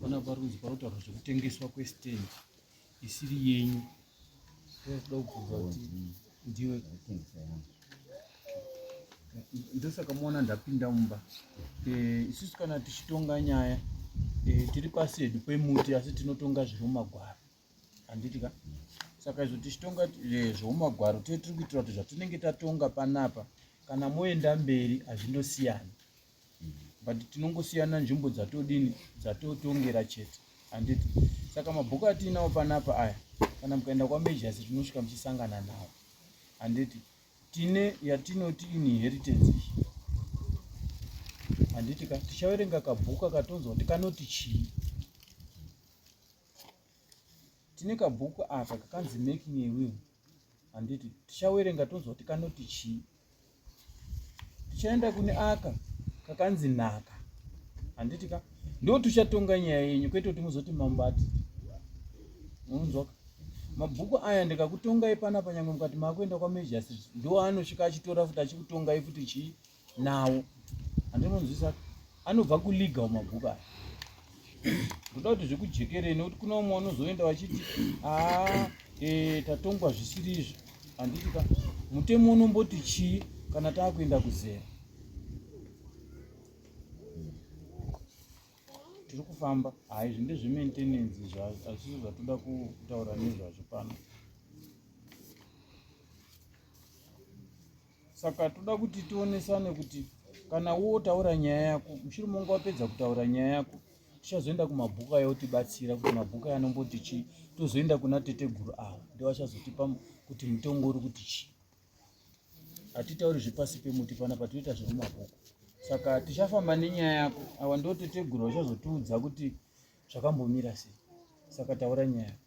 Pana parunzi parotaurwa zvekutengeswa kwestendi isiri yenyu toda kubvunza kuti ndiwe ndosaka muona ndapinda mumba eh, isusu kana tichitonga nyaya eh, tiri paside pemuti asi tinotonga zviri mumagwaro handiti ka saka izvo tichitonga eh, zvoumagwaro tee tiri kuitira kuti zvatinenge tatonga panapa kana moenda mberi hazvindosiyana but tinongosiyana nzvimbo dzatodini dzatotongera chete handiti saka mabhuku atiinawo panapa aya kana mukaenda kwamajors tinosvika muchisangana nawo handiti tine yatinoti inheritance iyi handiti ka tichaverenga kabhuku akatonzwa kuti kanoti chii tine kabhuku aka kakanzi making a will handiti tichawerenga tonzwa kuti kanoti chii tichaenda kune aka kakanzi nhaka handiti ka ndo tichatonga nyaya yenyu kwete kuti muzoti mambo ati munzwaka mabhuku aya ndikakutongai panapa nyangwe mukati maakuenda kwamejasi ndo anosvika achitora futi achikutongai futi chii nawo andinonzwisa anobva kuliga umabhuku aya ndoda kuti zvekujekerei nekuti kune umwe unozoenda vachiti aa e, tatongwa zvisiri izvi handiti ka mutemo unomboti chii kana taakuenda kuzera tiri kufamba hai zvi ndezvemaintenance zvazvisi zvatoda kutaura nezvazvo pano saka toda kuti tionesane kuti kana wotaura nyaya yako mushure monge wapedza kutaura nyaya yako tichazoenda kumabhuku aya otibatsira kuti mabhuku aya anomboti chii tozoenda kuna teteguru avo ndovachazotipa kuti mutongo uri kuti chii hatitauri zvepasi pemuti pana patinoita zvemumabhuku saka tichafamba nenyaya yako awa ndoteteguru vachazotiudza kuti zvakambomira sei saka taura nyaya yako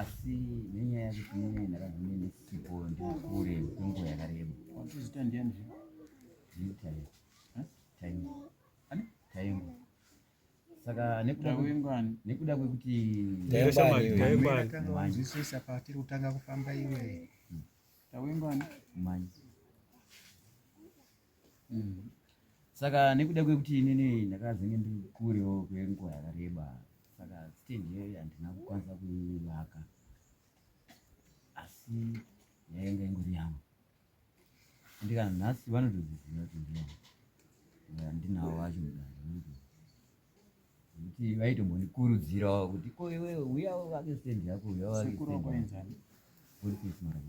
asi nenyaya yekuti mune ndakazimene ndisipo ndikure kwenguva yakareba watoziita ndiani zviitaimu taimu taimu saka nekuda kwekuti nzwisisa patiri kutanga kufamba iwe tawengwani manje mm. saka nekuda kwekuti inini ndakazenge ndiri kurewo kwenguva yakareba saka stage iyoyo handina kukwanisa kuivaka asi yainge ingori yangu andika nhasi vanotoziziva kuti ndiyangu andinawo vacho mudare kuti vaitombondikurudzirawo kuti ko iwe uya uvake stendi yako uya uvake stendi yako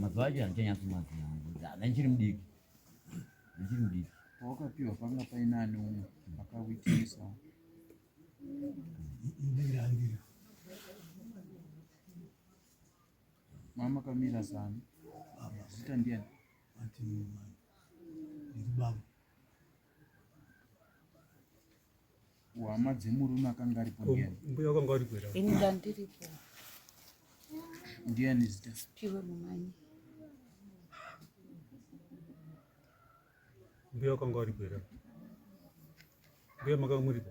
mazuva acho handichanyatsomaziva handichiri mudiki handichiri mudiki pawakapiwa panga paina ani umwe akawitisa mama kamira zani zita ndiani hama dzemurume akanga aripo mbuya akanga aripo ini ndandiripo ndiani zita piwe mumanyi mbuya akanga aripo here mbuya makanga muripo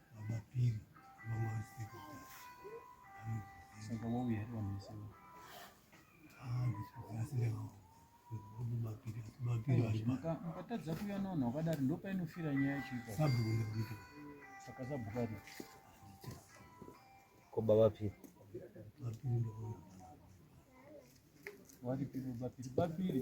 mukatadza kuuya navanhu vakadari ndopainofira nyaya yacho saka sabhukari koba vapiri varipiro vapiri vapiri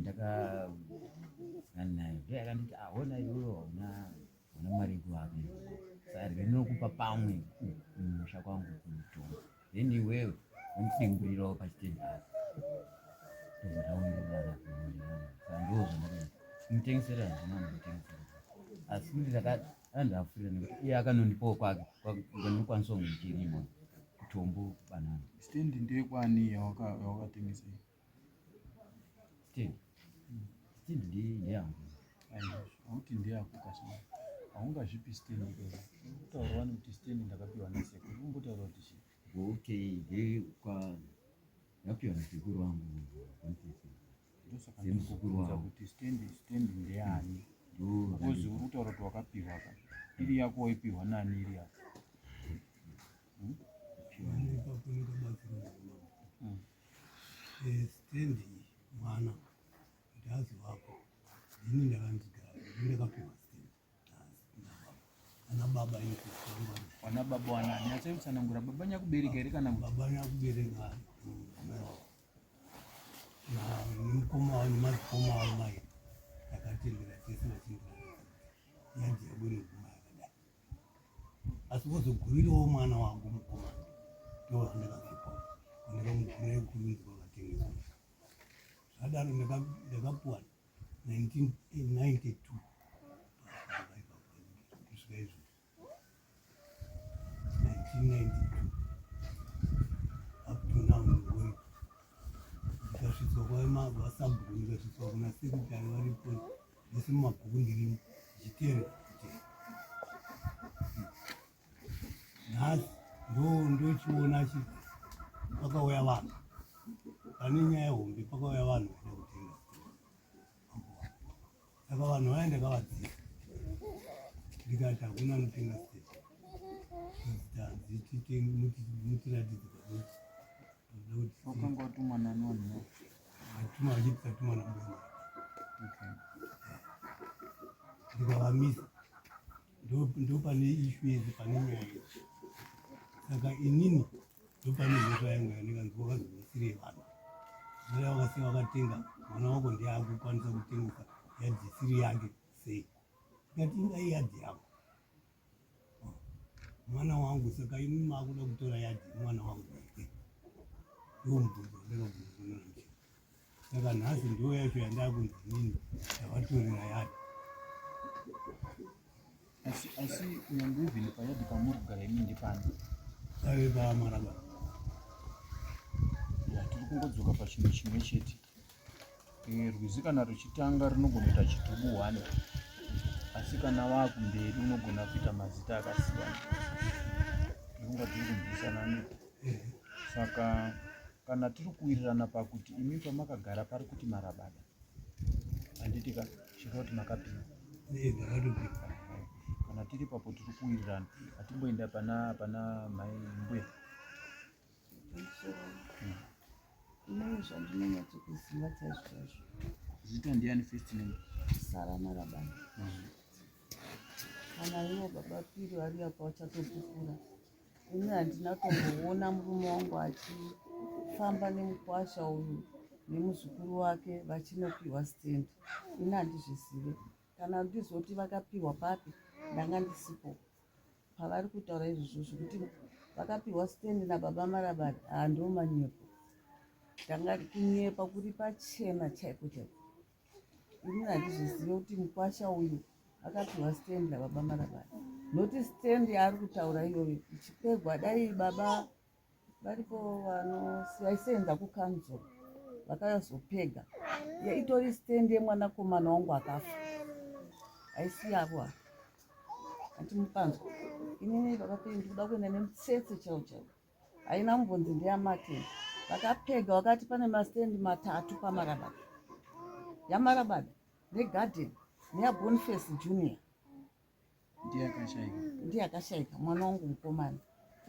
ndakaanayo ndo yakanditi ahona iwewe hauna hauna mari yekuhaka sari rinokupa pamwe musha kwangu kutonga then iwewe wandidimburirawo pachiteni apa ndozvakaonderana sandiwo zvandakaita mutengesera handina mutengesera asi kuti ndakati andafurira nekuti iye akanondipawo kwake kwakanokwanisa kunge ndichirima kutombo banana stendi ndekwani yawakatengesa Steve. Steve ndiye ndeyangu. Hauti ndeyako kasina. Haungazvipi Steve ndikera. Kutaura wani kuti Steve ndakapiwa naseko. Ungotaura kuti shi. Okay, ndiye kwa ndapiwa nasekuru wangu. Ndosaka ndikukuudza kuti Steve Steve ndeyani. Because uri kutaura kuti wakapiwa ka. Iri yako waipiwa nani iri yako? Hmm? stendi mwana kuti azivapo ini ndakandigara ndakapiwa stendi ana baba ana baba wanani achaitsanangura baba nyakubereka here kana baba nyakubereka nemukoma wavo nemadzikoma wavo mai takatendera tese vachindiaa yanzi yabwino asi vozogurirawo mwana wangu mukomana ndovandakazipa vandakamugura yekurudzwa vatengesa zvadaro ndakapuwa 1992 kusvika izvo 1992 up to now ngori ndikasvitswa kwavasabhuku ndikasvitswa kuna sekutari varipo Mose mumabhuku ndirimo zvitere kuti nhasi ndo ndochiona chi pakauya vanhu pane nyaya hombe pakauya vanhu vaida kutenga saka vanhu vaya ndakavadzisa ndikati hakuna anotenga state mutiratidzi Wakanga watumwa nani wanhu wako? Atumwa achiti tatumwa nambuya mako. Okay. Ndikavamisa ndo pane ishu yese pane nyaya yese saka inini ndo pane mhosva yangu yandikanzi wakazivasire vanhu mara wakase wakatenga mwana wako ndiye akukwanisa kutengesa yadhisiri yake sei ikati inga iyadhi yako mwana wangu saka imi makuda kutora yadi mwana wangu ndomubvunza ndakabvunza saka nhasi ndiyo yacho yandakunzi nini yavatorera yadi asi asi nyangwe even payadi pamuri kugara imi ndipani ave pamaraba tiri kungodzoka pachinhu chimwe chete Eh, rwizi kana ruchitanga runogona kuita chitubu one asi kana wakumberi unogona kuita mazita akasiyana unonga tiri kunzwisana nepo saka kana tiri kuwirirana pakuti imi pamakagara pari kuti marabada handitika chiro kuti makapinda kana tiri papo tiri kuwirirana hatimboenda pana pana mai mbuya Ndine zvandinonyatso kuziva chaizvo chaizvo. Zita ndiani first name? Sara Marabana. Kana ivo baba Piri vari apa vachatopupura. Ini handina tomboona murume wangu achifamba nemukwasha uyu nemuzukuru wake vachinopiwa stand. Ini handizvizive. Kana ndizoti vakapihwa papi ndanga ndisipo pavari kutaura izvozvo zvekuti vakapihwa stand nababa marabari haa ah, ndomanyepo ndanga kunyepa kuri pachena chaiko chaiko ini handizvizive kuti mukwasha uyu akapihwa stand nababa marabari noti stand yaari kutaura iyoyo ichipegwa dai baba varipo vanosaisenza kukanzuru vakazopega itori stand yemwanakomana wangu akafa haisi yavo ava hanti mupanzwa inini vakapei ndikuda kuenda nemutsetse chao chao haina mbonzi ndeyamateni vakapega vakati pane mastand matatu pamarabada yamarabada negarden neyabonface junior ndiye akashaika mwana wangu mukomana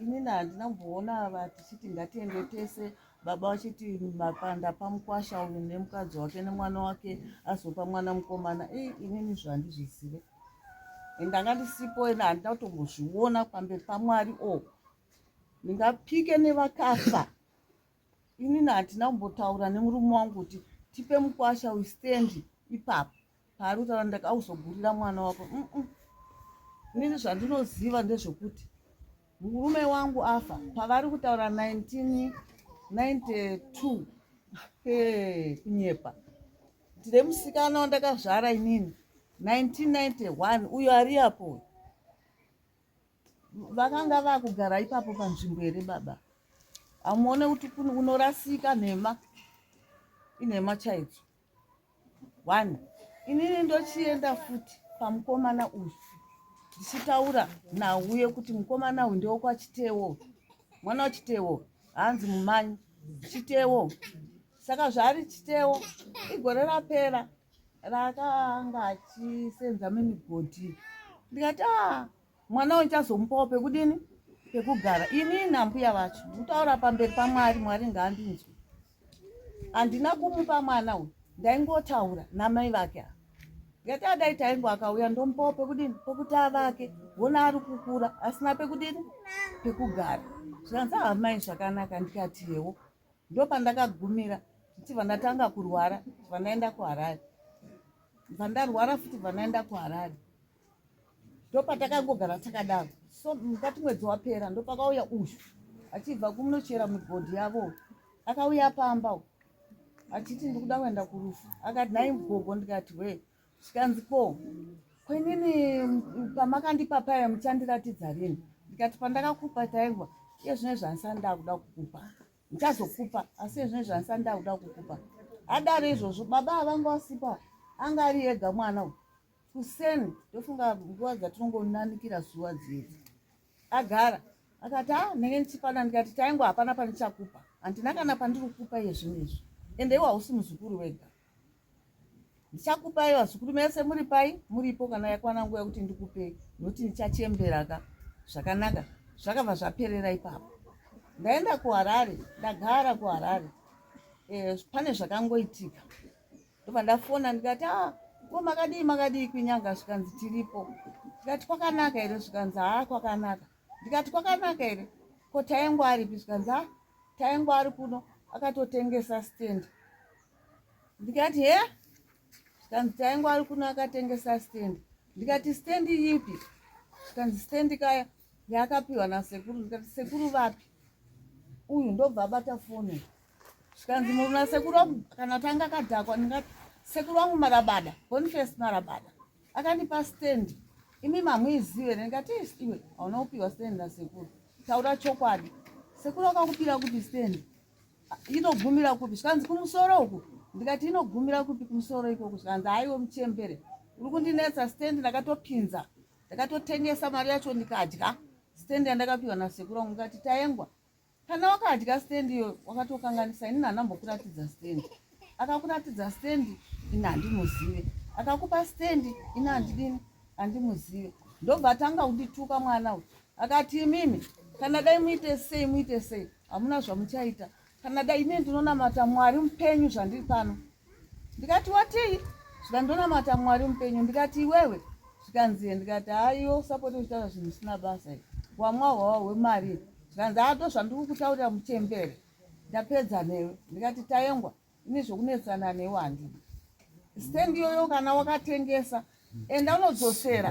inini handina kumboona ava tichiti ngatiende tese baba vachiti mapanda pamukwasha uyu nemukadzi wake nemwana wake azopa mwana mukomana e inini zvo handizvizive ndanga ndisipo ena handina kutombozviona pamberi pamwari o oh, ndingapike nevakafa inini handina kumbotaura nemurume wangu kuti tipe mukwasha uyu stendi ipapo paari kutaura ndakauzogurira mwana wako mm -mm. inini zvandinoziva ndezvekuti murume wangu afa pavari kutaura 1992 hey, kunyepa ndine musikana wandakazvara inini 1991 uyo ari apo vakanga vakugara ipapo panzvimbo here baba amuone kuti unorasika nhema inhema chaidzo one inini ndochienda futi pamukomana uyu ndichitaura nauye kuti mukomana uyu ndewokwachitewo mwana wachitewo hanzi mumanyi chitewo saka zvaari chitewo igore rapera raakanga achisenza mimigodhi ndikati a ah, mwana uyu ndichazomupawo pekudini pekugara ini nambuya vacho nditaura pamberi pamwari mwari ngaandinzwe handina kumupa mwana uyu ndaingotaura namai vake a ngati adai taingo akauya ndomupawo pekudini pokuti avake wona ari kukura asina pekudini pekugara zvikanzi ahamai zvakanaka ndikati yewo ndopandakagumira ndichibva ndatanga kurwara ndibva ndaenda kuharare ndibva ndarwara futi bva ndaenda kuharare ndopatakangogara takadaro so mukati mwedzi wapera ndopakauya uyu achibva kumunochera mugodhi yavo akauya pamba achiti ndikuda kuenda kurufu akati nhai mugogo ndikati we zvikanzi ko kwenini pamakandipa paya muchandiratidza rini ndikati pandakakupa taingwa iye zvine zvandisani ndakuda kukupa ndichazokupa asi iye zvine zvandisani ndakuda kukupa adaro izvozvo baba avanga wasipa anga ari ega mwana uyu kuseni ndofunga nguva dzatinongonanikira zuva dzidzi agara akati a ah, ndenge ndichipana ndikati taingo hapana pandichakupa handina kana pandiri kukupa iye zvinhu izvi ende iwo hausi muzukuru wega ndichakupai vazukuru mese muri pai muripo kana yakwana nguva yekuti ndikupei nokuti ndichachemberaka zvakanaka zvakabva zvaperera ipapo ndaenda kuharare ndagara kuharare e, pane zvakangoitika ndobva ndafona ndikati a ah, ko makadii makadii kwinyanga zvikanzi tiripo ndikati kwakanaka here zvikanzi haa ah, kwakanaka ndikati kwakanaka here ko taengo aripi zvikanzi a ah, taengo ari kuno akatotengesa stand ndikati he zvikanzi taengo ari kuno akatengesa stand ndikati stand yipi zvikanzi stand kaya yaakapiwa nasekuru ndikati sekuru vapi uyu ndobva abata foni zvikanzi munhu nasekuru wangu kana tanga akadhakwa ndingati sekuru wangu marabada bonifest marabada akandipa stand imi mamuizive here ndikati iwe hauna kupiwa stand nasekuru taura chokwadi sekuru akakupira kupi stand inogumira kupi zvikanzi kumusoro uku ndikati inogumira kupi kumusoro ikoko zvikanzi haiwe muchembere uri kundinetsa stand ndakatopinza ndakatotengesa mari yacho ndikadya stand yandakapiwa nasekuru wangu ngati taengwa kana wakadya stand iyo wakatokanganisa inini handambokuratidza stand akakuratidza stand ini handimuzive akakupa stand ini handidini handimuzive ndobva atanga kundituka mwana uyu akati imimi kana dai muite sei muite sei hamuna zvamuchaita kana dai ine ndinonamata mwari mupenyu zvandiri pano ndikati watii zvika ndonamata mwari mupenyu ndikati iwewe zvikanzi ndikati haiwe usapoti uchitaura zvinhu zvisina basa i wamwa hwawa hwemari zvikanzi ato zvandiri kutaurira muchembere ndapedza newe ndikati taengwa ini zvokunetsana newe handii stand iyoyo kana wakatengesa enda unodzosera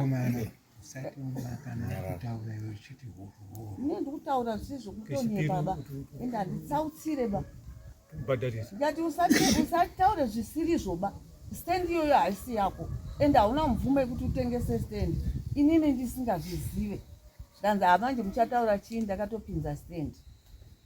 ndikutaura zvisi zvokutonye baba ende handitsautsire ba ndati usataure zvisiri zvoba stand iyoyo haisi yako ende hauna mvumo yekuti utengese stand inini ndisingazvizive zvikanzi hamanje muchataura chii ndakatopinza stand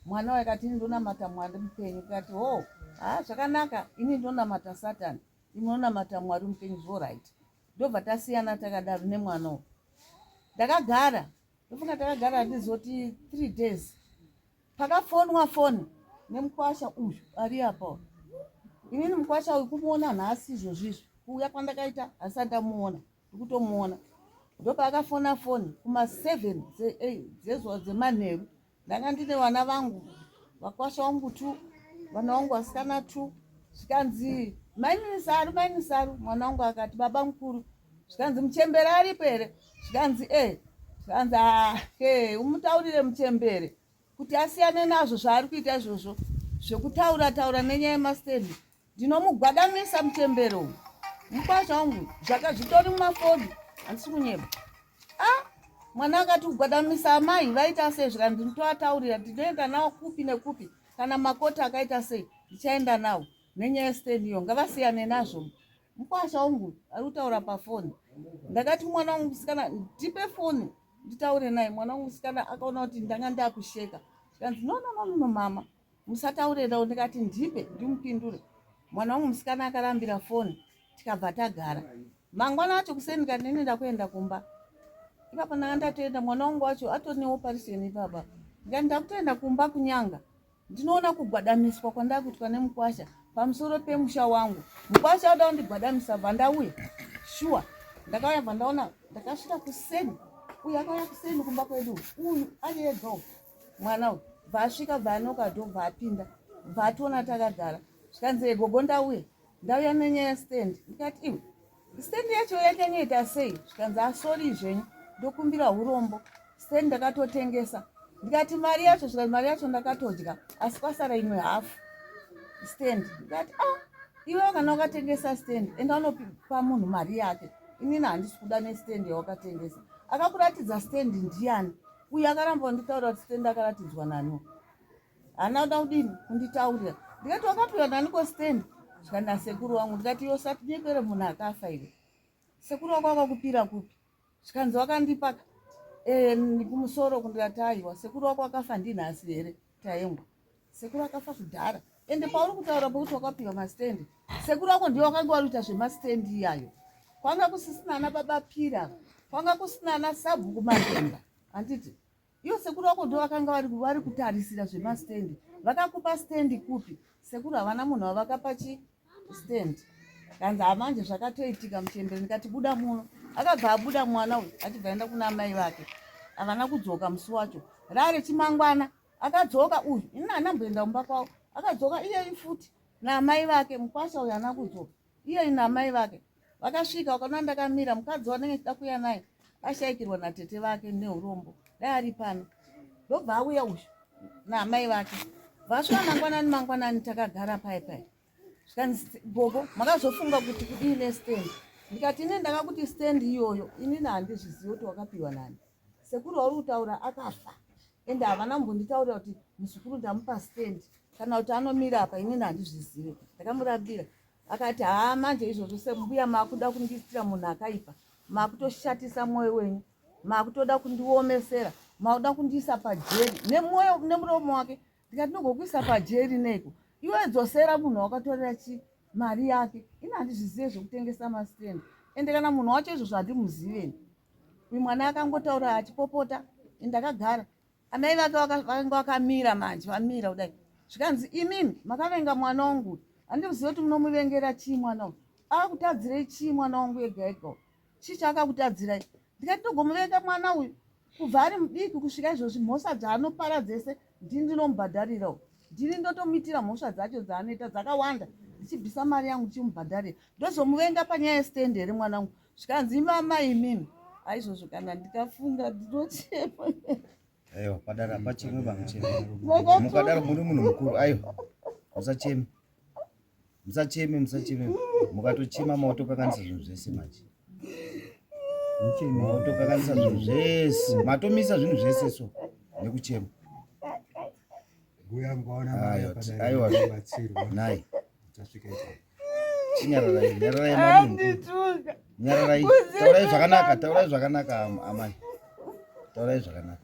mwana waye kati ini ndonamata mwari mupenyu kati ho oh, haa zvakanaka ini ndonamata satani Ndinonamata Mwari mupenyu zvo right. Ndobva tasiyana takadaro nemwana uyu. Ndakagara ndofunga takagara handizoti three days pakafonwa foni nemukwasha uyu ari apa inini mukwasha uyu kumuona nhasi izvozvizvo kuuya kwandakaita hasati ndamuona ndikutomuona ndopaakafona foni kuma 7 dzezuva eh, dzemanheru ndanga ndine vana vangu vakwasha wangu two vana wangu vasikana two zvikanzi maini saru maini saru mwana wangu akati baba mukuru zvikanzi muchembere aripo here zvikanzi e zvikanzi ahe umutaurire muchembere kuti asiyane nazvo zvaari kuita izvozvo zvekutaura taura nenyaya yemastendi ndinomugwadamisa muchembero uyu mukwazva wangu zvaka zvitori mumafoni handisi kunyeba a ah, mwana akati kugwadamisa amai vaita sei zvika ndinotoataurira ndinoenda nawo kupi nekupi kana makoti akaita sei ndichaenda nawo nenyaya yestendi iyo ngavasiyane nazvo Mkwasha wangu ari kutaura pafoni. Ndakati mwana wangu musikana ndipe foni nditaure naye. Mwana wangu musikana akaona kuti ndanga ndakusheka. Zvikanzi no no no no mama musataure nawo ndikati ndipe ndimupindure. Mwana wangu musikana akarambira foni tikabva tagara. Mangwana acho kuseni kati nini ndakuenda kumba. Ipapa ndanga ndatoenda mwana wangu wacho atonewo pariseni ipapa. Ndikati ndakutoenda kumba kunyanga. Ndinoona kugwadamiswa kwandaa kuitwa nemukwasha pamusoro pemusha wangu. Mukwasha oda kundigwadamisa bva ndauya shuwa. Ndakauya bva ndaona ndakasvika kuseni uyu akauya kuseni kumba kwedu uyu ari ega uyu mwana uyu bva asvika bva anoka dho bva apinda bva ationa takagara zvikanzi egogo ndauya ndauya nenyaya stand ndikati iwe Stand yacho yakanga ita sei zvikanzi asori zvenyu ndokumbira hurombo stand ndakatotengesa ndikati mari yacho zvikanzi mari yacho ndakatodya asi kwasara imwe hafu stand ndikati a ah, iwe kana wakatengesa stand enda unopa munhu mari yake inini handisi kuda nestand yawakatengesa akakuratidza stand ndiyani uye akaramba nditaura kuti stand akaratidzwa nani haana kuda kudini kunditaurira ndikati wakapihwa nani kostand zvikanzi nasekuru wangu ndikati yo satinyepere munhu akafa iwe sekuru wako wakakupira kupi zvikanzi wakandipaka eh, kumusoro kundikati aiwa sekuru wako wakafa ndinhasi here taengwa sekuru akafa kudhara ende pauri kutaura pokuti wakapiwa mastendi sekuru ako ndiwo wakange wari kuita zvemastendi iyayo kwanga kusisina ana baba pira kwanga kusina ana sabhuku matemba handiti Iyo sekuru wako ndo vakanga vari kutarisira zvemastendi vakakupa stendi kupi sekuru havana munhu wavakapa chi stendi kanzi hamanje zvakatoitika muchembere ndikati buda muno akabva abuda mwana uyu achibva enda kuna amai vake havana kudzoka musi wacho rare chimangwana akadzoka uyu ini anamboenda mumba kwavo akadzoka iyeyi futi naamai vake mukwasha uyu ana kudzoka Iye namai vake vakasvika wakaona ndakamira mukadzi wanenge chida kuya naye ashaikirwa natete vake neurombo dai ari pano ndobva auya uyu namai vake vasvika mangwanani mangwanani takagara pai pai zvikanzi gogo makazofunga kuti kudii nestand ndikati ini ndakakuti stand iyoyo inini handizvizivi kuti wakapiwa nani sekuru wauri kutaura akafa ende havana kumbonditaurira kuti muzukuru ndamupa stand kana kuti anomira apa inini handizvizive ndakamurambira akati haa manje izvozvo sembuya maakuda kundiitira munhu akaipa maakutoshatisa mwoyo wenyu maakutoda kundiomesera maakuda kundiisa pajeri nemwoyo nemuromo wake ndikati nogokuisa pajeri neiko iwe dzosera munhu wakatorera chi mari yake ini handizvizive zvekutengesa mastand ende kana munhu wacho izvozvo handimuziveni Uyu mwana akangotaura achipopota ndakagara. Amai vake vakanga vakamira manje vamira kudai. Zvikanzi imimi makavenga mwana wangu. Handizivi kuti munomuvengera chii mwana wangu. Akutadzirei chii mwana wangu ega ega. Chii chaakakutadzirai? Ndikati ndogomuvenga mwana uyu kubva ari mudiki kusvika izvozvi mhosva dzaanopara dzese ndini ndinomubhadharirawo ndini ndotomuitira mhosva dzacho dzaanoita dzakawanda ndichibvisa mari yangu ndichimubhadharira ndozomuvenga panyaya yestand here mwana wangu zvikanzi imama imimi aizvozvo kana ndikafunga ndinochema aiwa padara pachimwe vamuchema mukadaro muri munhu mukuru aiwa usacheme musacheme musacheme mukatochema maotokanganisa zvinhu zvese manje maotokanganisa zvinhu zvese matomisa zvinhu zvese so nekuchema aiwaai chinyararai nyararai nyararai taurai zvakanaka taurai zvakanaka amai taurai zvakanaka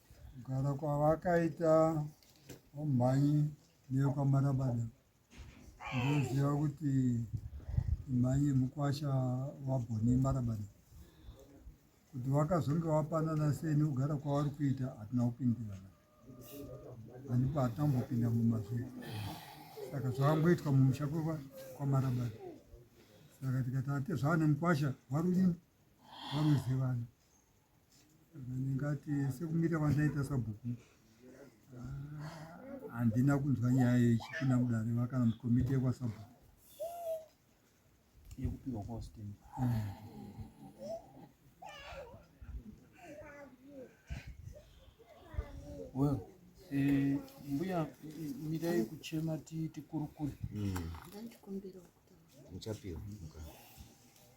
kugara kwavakaita vamhanyi neyekwamarabada ndoziva kuti mhanyi mukwasha wabhoni marabada kuti vakazonge vapanana sei nekugara kwavari kuita hatina kupindirana handipo hatina kumbopinda mumazvii saka zvakangoitwa mumusha kwamarabada saka tikati ati zvava nemukwasha warudini waruzivana ndingati sekumira kwandaita sabhuku ah, handina kunzwa nyaya yechipinda mudare vakana mukomiti yekwasabhuku yekupiwa kwastem well eh, mbuya mirai kuchema tikurukure mm. muchapihwa mukana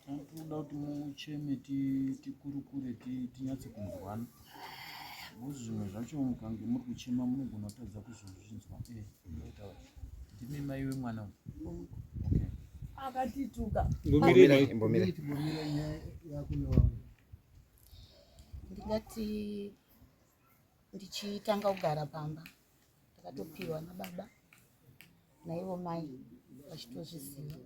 tinoda kuti mucheme tikurukure tinyatse kunzwana nokuti zvimwe zvacho mukange muri kuchema munogona kutadza kuzozvinzwa eh, ndimi mai wemwana uyu akatituka ndingati ndichitanga kugara pamba takatopiwa nababa naivo mai vachitozviziva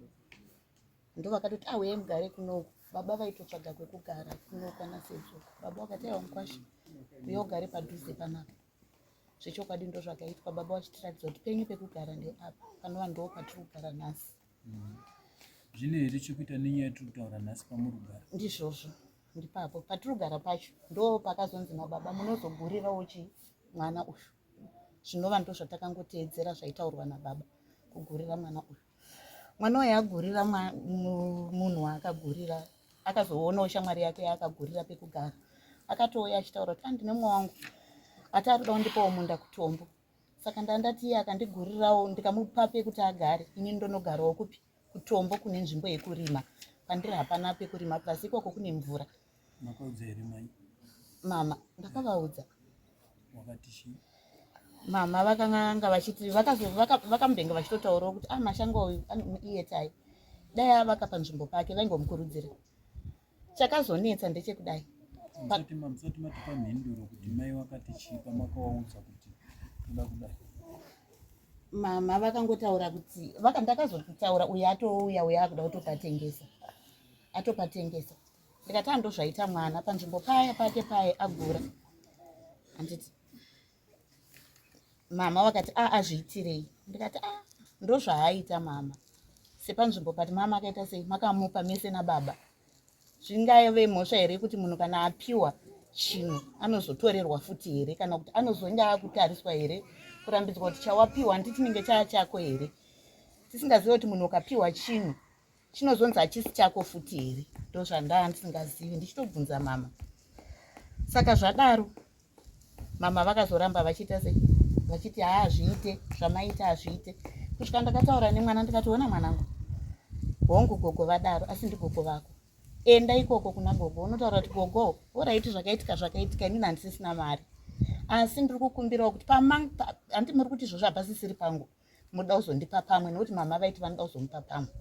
ndo vakatoti auye ah, mugare kunoku baba vaitotsvaga kwekugara kunoku ana sedzo baba vakati aiwa mukwasha uye ugare padhuze panapa zvechokwadi ndo zvakaitwa baba vachitiratidza kuti penyu pekugara ndeapa panova ndo patiri kugara nhasi zvine here chekuita nenyaya yatiri kutaura nhasi pamurugara ndizvozvo ndipapo patirugara pacho ndo pakazonzi nababa munozogurirawo chi mwana uyu zvinova ndo zvatakangoteedzera zvaitaurwa nababa kugurira mwana uyu mwana uyu agurira munhu waakagurira akazoonawo shamwari yake yaakagurira pekugara akatouya achitaura kuti andine mwa wangu ati ari kuda kundipawo munda kutombo saka ndandati iye akandigurirawo ndikamupa pekuti agare ini ndonogarawo kupi kutombo kune nzvimbo yekurima pandiri hapana pekurima plus ikoko kune mvura mama ndakavaudza mama vakanganga vachiti vakamudenge vachitotaurawo kuti ah mashango uyu iye tai dai avaka panzvimbo pake vaingomukurudzira chakazonetsa ndechekudai musati matipa mhinduro kuti mai wakati chii pamakawaudza kuti uda kudai mama vakangotaura kuti vaka ndakazotaura uye atouya uye akuda kutopatengesa atopatengesa ndikati andozvaita mwana panzvimbo paya pake paye agura handiti mama vakati a ah, azviitirei ndikati a ah, ndozvaaita mama sepanzvimbo but mama akaita sei makamupa mese nababa zvingaive mhosva here kuti munhu kana apiwa chinhu anozotorerwa futi here kana kuti anozonge akutariswa here kurambidzwa kuti chawapiwa hanti chinenge chaa chako here tisingazive kuti munhu ukapiwa chinhu chinozonzi hachisi chako futi here ndozvandaa ndisingazivi ndichitobvunza mama saka zvadaro mama vakazoramba vachiita se vachiti haa hazviite zvamaita hazviite kusvika ndakataura nemwana ndikationa mwanangu hongu gogo vadaro asi ndigogo vako enda ikoko kuna gogo unotaura kuti gogo oraiti zvakaitika zvakaitika inini handisisina mari asi ndiri kukumbirawo kuti pamandi muri kuti izvozvo hapasisiri pangu pa, munoda kuzondipa pamwe nokuti mama vaiti vanoda kuzomupa pamwe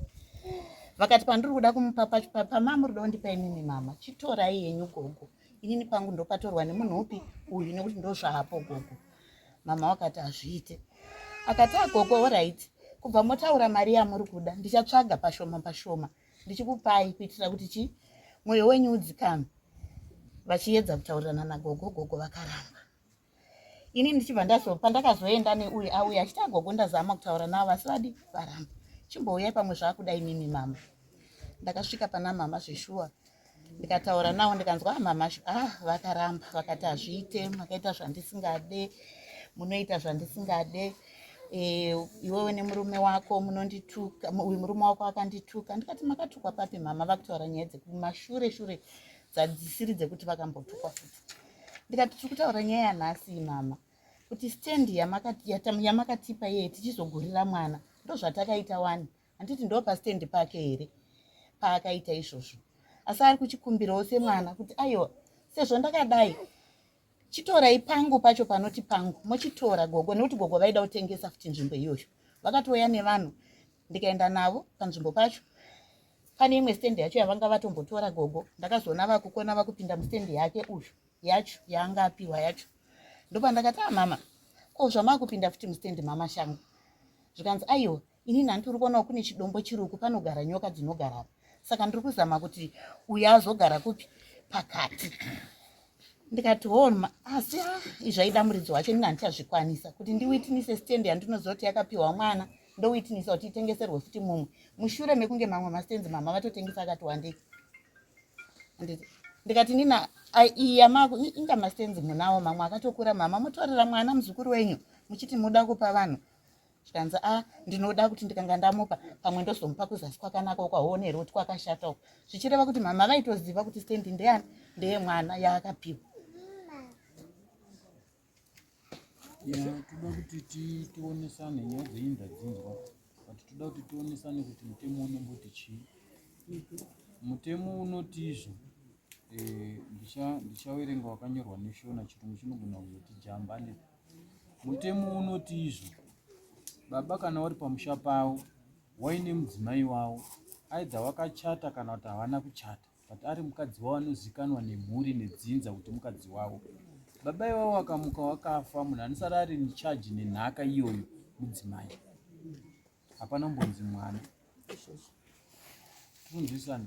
vakati pandiri kuda kumupa pacho pama muri kuda kundipa inini mama chitorai yenyu gogo inini pangu ndopatorwa nemunhu upi uyu nekuti ndozvaapo gogo mama wakati hazviite akati agogo ah, orit kubva motaura mari yamuri kuda ndichatsvaga pashoma pashoma ndichikupai kuitira kuti chi mwoyo wenyu udzikame vachiedza kutaurirana nagogo gogo vakaramba ini ndichibva ndazo pandakazoenda neuyu auya achiti agogo ndazama kutaura navo asi vadi varamba chimbouyai pamwe zvaakuda inini mama ndakasvika pana mama zveshuwa ndikataura navo ndikanzwa ah, mama ah vakaramba vakati hazviite makaita zvandisingade munoita zvandisingade eh, iwewe nemurume wako munondituka uyu murume wako akandituka ndikati makatukwa papi mama vakutaura nyaya dzekumashure shure dzadzisiri dzekuti vakambotukwa futi ndikati tiri kutaura nyaya yanhasi mama kuti stand yamakatipa yeye tichizogurira mwana ndozvatakaita wani handiti ndo pastand pake here paakaita izvozvo asi ari kuchikumbirawo semwana kuti aiwa sezvo ndakadai chitorai pangu pacho panoti pangu mochitora gogo nekuti gogo vaida kutengesa futi nzvimbo iyoyo vakatouya nevanhu ndikaenda navo panzvimbo pacho pane imwe stand yacho yavanga vatombotora gogo ndakazoona vakukona vakupinda mustand yake uyu yacho yaanga apiwa yacho ndopandakati a ah, mama ko zvamakupinda futi mustand mama shangu zvikanzi aiwa ini nhanti uri kuonawo kune chidombo chiruku panogara nyoka dzinogara apa saka ndiri kuzama kuti uya azogara kupi pakati ndikati homa oh, asi ah, izvaida muridzi wacho ini handichazvikwanisa kuti ndiwitinise stand yandinozoti yakapiwa mwana ndowitnisa kuti itengeserwe futi mumwe mushure mekunge mamwe mastenzi mama vatotengesa akati wandei ndikati nina iya mako inga mastenzi munawo mamwe akatokura mama mutorera mwana muzukuru wenyu muchiti muda kupa vanhu zvikanzi a ndinoda kuti ndikanga ndamupa pamwe ndozomupa kuzasi kwakanaka ukaonere kuti kwakashata uko zvichireva kuti mama vaitoziva kuti stendi ndeyani ndeyemwana yaakapiwa ya toda kuti tionesane nyaya dzenyu ndadzinzwa but toda kuti tionesane kuti mutemo unomboti chii mutemo unoti izvo eh, ndichawerenga wakanyorwa neshona chirungu chinogona kuzoti jambane mutemo unoti izvo baba kana wari pamusha pavo waine mudzimai wavo aidha wakachata kana kuti havana kuchata but ari mukadzi wavo anozikanwa nemhuri nedzinza kuti mukadzi wavo baba ivavo vakamuka wakafa munhu anosara ari necharge nenhaka iyoyo mudzimai hapana mbonzi mwana tikunzwisana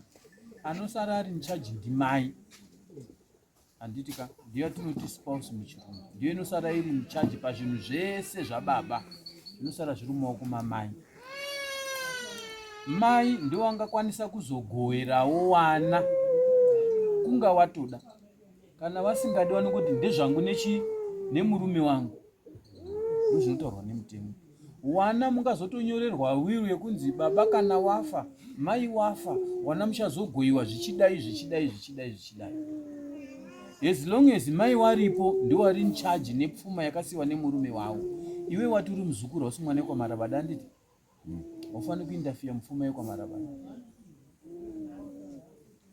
anosara ari necharge ndimai handiti ka ndiyo yatinoti spouse muchirungu ndiyo inosara iri muchaji pazvinhu zvese zvababa zvinosara zviri mumaoko mamai mai ndiwo angakwanisa kuzogoherawo wana kunga watoda kana vasingadi wani kuti ndezvangu nechi nemurume wangu zvinotaurwa nemutemo wana mungazotonyorerwa wiru yekunzi baba kana wafa mai wafa wana muchazogoiwa zvichidai zvichidai zvichidai zvichidai as long as mai waripo ndiwari in charge nepfuma yakasiwa nemurume wawo iwe wati uri muzukuru hausi mwana wekwamarabada anditi Haufani kuinterfere mupfuma yekwamarabana.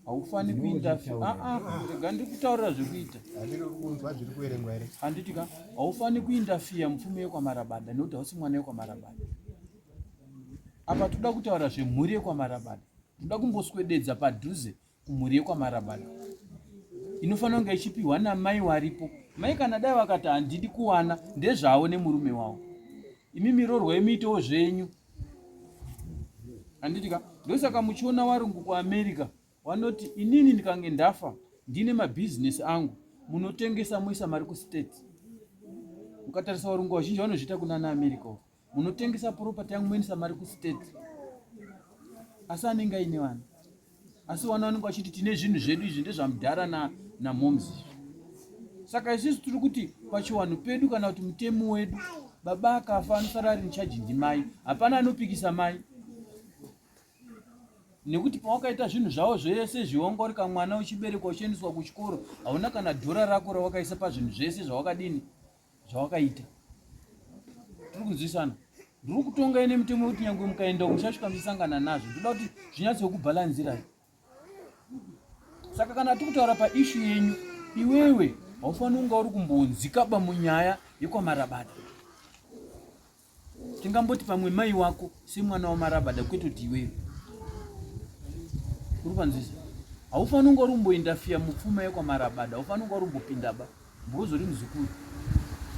Haufani kuinterfere. Ah ah, rega ndiri kutaurira zvekuita. Handiri kunzwa zviri kuverengwa here? Handiti ka, haufani kuinterfere mupfuma yekwamarabada nekuti hausi mwana yekwamarabada. Apa toda kutaura zvemhuri yekwamarabada. Toda kumboswededza padhuze kumhuri yekwamarabada inofanira kunge ichipiwa namai waripo mai kana dai vakati handidi kuwana ndezvavo nemurume wavo imi mirorwa imiitewo zvenyu handiti ka ndosaka muchiona warungu kuamerica vanoti inini ndikange ndafa ndine mabhizinesi angu munotengesa moisa mari kustate ukatarisa varungu vazhinji vanozviita kunana america uko munotengesa property yangu moendesa mari kustate asi anenge aine vana asi vana vanenge vachiti tine zvinhu zvedu izvi ndezvamudhara na, na moms saka isusu tiri kuti pachiwanhu pedu kana kuti mutemi wedu baba akafa anosara ari muchaji ndimai hapana anopikisa mai nekuti pawakaita zvinhu zvavo zvese zviongorika mwana uchiberekwa uchiendeswa kuchikoro hauna kana dhora rako rawakaisa pazvinhu zvese zvawakadini zvawakaita tiri kunzwisana ndiri kutonga ine mitemo yekuti nyangwe mukaenda muchasvika muchisangana nazvo ndoda kuti zvinyatsokubhalanzirai saka kana tiri kutaura paishu yenyu iwewe haufaniri kunga uri kumbonzikaba munyaya yekwamarabada tingamboti pamwe mai wako semwana wamarabada kwete kuti iweyo uri panzvisa haufaniri kunge uri kumboindafiya mupfuma yekwamarabada haufani kunge uri kumbopindaba mbozori muzukuru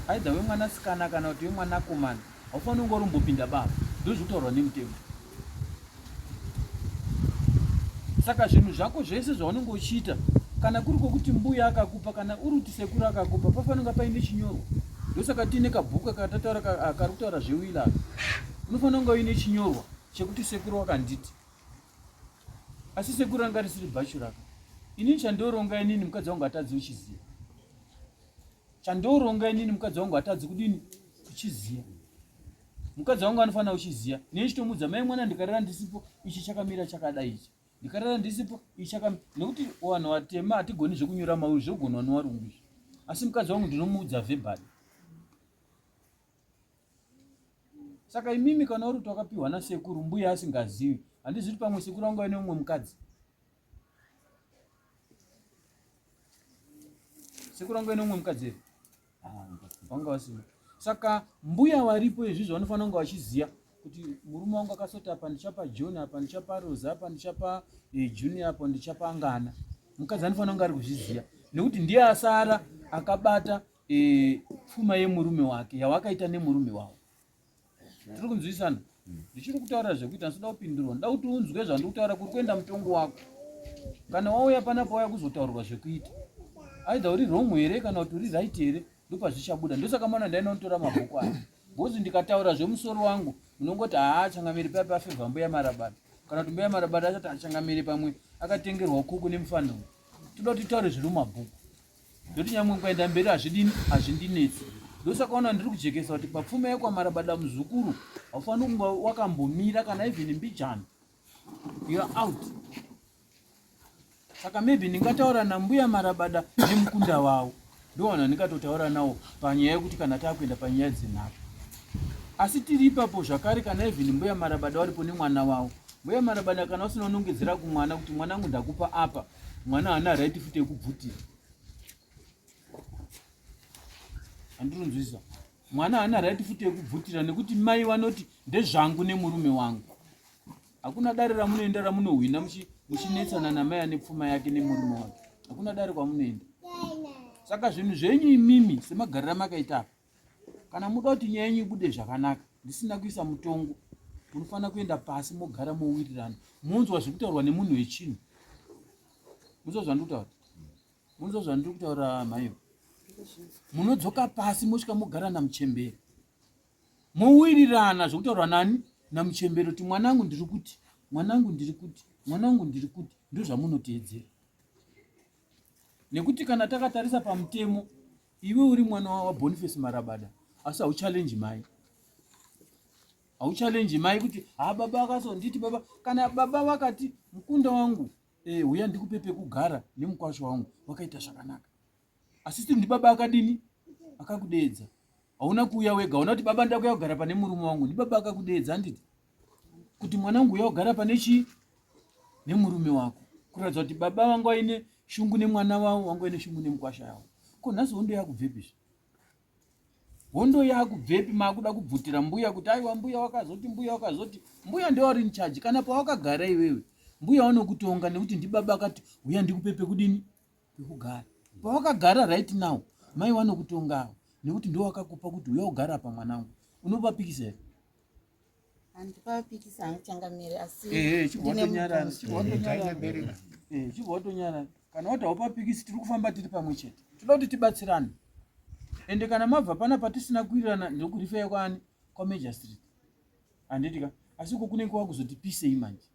aidha wemwanasikana kana kuti wemwanakomana haufaniri kunge uri kumbopinda baba ndozvitaurwa nemutemo saka zvinhu zvako zvese zvaunenge uchiita kana kuri kwokuti mbuya akakupa kana uri kuti sekuru akakupa pafanonga paine chinyorwa ndosaka tiine kabhuku akatataura kari kutaura zvewila unofanira kunga uine chinyorwa chekuti sekuru wakanditi asi sekuru anga risiri bhachu rako inini chandioronga inini mukadzi wangu atadzi uchiziva Chandooronga inini mukadzi wangu hatadzi kudini kuchiziya. Mukadzi wangu anofanira kuchiziya. Nei chitomuudza mai mwana ndikarara ndisipo ichi chakamira chakadai ichi. Ndikarara ndisipo ichi chakamira nekuti vanhu vatema hatigoni zvekunyora mauri zvogonwa nevarungu izvi. Asi mukadzi wangu ndinomuudza vhebhari. Saka imimi kana uri kuti wakapiwa nasekuru mbuya asingazivi handizivi kuti pamwe sekuru vangu vaine umwe mukadzi. sekuru vangu vene umwe mukadzi here vanga vasimo saka mbuya varipo izvizvi vanofanira kunge vachiziva kuti murume wangu akasota apa ndichapa john apa ndichapa rosa apa ndichapa eh, junior apa ndichapa angana mukadzi anofanira kunge ari kuzviziva nekuti ndiye asara akabata eh, pfuma yemurume wake yawakaita nemurume wavo tiri kunzwisana ndichiri kutaura zvekuita ndisida kupindurwa nda kuti unzwe zvandikutaura kuri kuenda mutongo wako kana wauya panapa wauya kuzotaurwa zvekuita aidha uri wrong here kana kuti uri right here ndopazvichabuda ndosaka mwana ndainonitora mabhuku aya bhozi ndikataura zvemusoro wangu munongoti haa changamiri paipa afevha mbuya marabata kana kuti mbuya marabata achati achangamiri pamwe akatengerwa kuku nemufaniro toda kuti taure zviri mumabhuku ndokuti nyamwe kuenda mberi hazvidini hazvindinetsi ndosakaona ndiri kujekesa kuti papfuma yekwamarabada muzukuru haufaniri kunga wakambomira kana even mbijana youare out saka maybe ndingataura nambuya marabada nemukunda wavo ndowana ndingatotaura nawo panyaya yekuti kana taakuenda panyaya dzenhaka asi tiri ipapo zvakare kana even mbuya marabada varipo nemwana wavo mbuya marabada kana usina unongedzera kumwana kuti mwanangu ndakupa apa mwana haana right futi yekubvutira handirunzwisa mwana haana right futi yekubvutira nekuti mai vanoti ndezvangu nemurume wangu hakuna dare ramunoenda ramunohwina muchinetsana namai ane pfuma yake nemurume wake hakuna dare kwamunoenda saka zvinhu zvenyu imimi semagariro amakaita apa kana muda kuti nyaya yenyu ibude zvakanaka ndisina kuisa mutongo munofanira kuenda pasi mogara mowirirana monzwa zviri kutaurwa nemunhu wechinhu munzwa zvandiri kutaura munzwa zvandiri kutaura maivo munodzoka pasi mosvika mogara namuchemberi mowirirana zvekutaurwa nani namuchemberi kuti mwanangu ndiri kuti mwanangu ndiri kuti mwanangu ndiri kuti ndozvamunoteedzera nekuti kana takatarisa pamutemo Iwe uri mwana wa Boniface Marabada asi hau challenge mai. Hau challenge mai kuti ha baba akaso nditi baba kana baba vakati mukunda wangu eh uya ndikupe pekugara nemukwasho wangu wakaita zvakanaka. Asi still ndi baba akadini akakudeedza. Hauna kuuya wega unakuti baba ndakuya kugara pane murume wangu ndi baba akakudeedza nditi. kuti mwana wangu uya ogara pane chii nemurume wako kuratidza kuti baba vangu vaine shungu nemwana wavo vangu vaine shungu nemukwasha yavo ko nhasi hondo yakubvepi zve hondo yakubvepi makuda kubvutira mbuya kuti aiwa mbuya wakazoti mbuya wakazoti mbuya ndewauri nichaji kana pawakagara iwewe mbuya wanokutonga nekuti ndibaba akati uya ndikupe pekudini pekugara pawakagara right now mai wanokutongawo nekuti ndowakakupa kuti uya ugara pamwanangu unopapikisa here chibwatonyarara kana wati haupapikisi tiri kufamba tiri pamwe chete tinoda kuti tibatsirane ende kana mabva pana patisina kuwirirana ndokurifeya kwaani kwamajor street handitika asi uko kunenge kwakuzoti pisei manje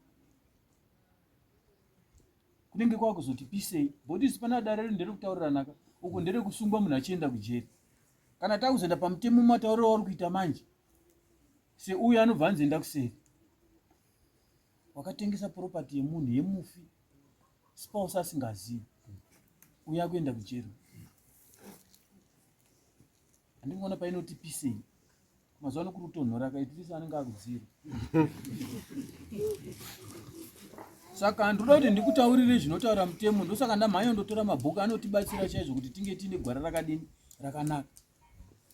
kunenge kwakuzoti pisei bhodisi pana dare redu nderekutauriranaka uko nderekusungwa munhu achienda kujeri kana takuzoenda pamutemo matauriro auri kuita manje seuyo anobva anzi enda kuseri wakatengesa property yemunhu yemufi spouse asingazivi uye akuenda kujeri handikuona painoti pisei mazuva ano kuri kutonhora kaitiliso anenge akudzira saka ndinoda kuti ndikutaurire zvinotaura mutemo ndosaka ndamhanya ndotora mabhuku anotibatsira chaizvo kuti tinge tiine gwara rakadini rakanaka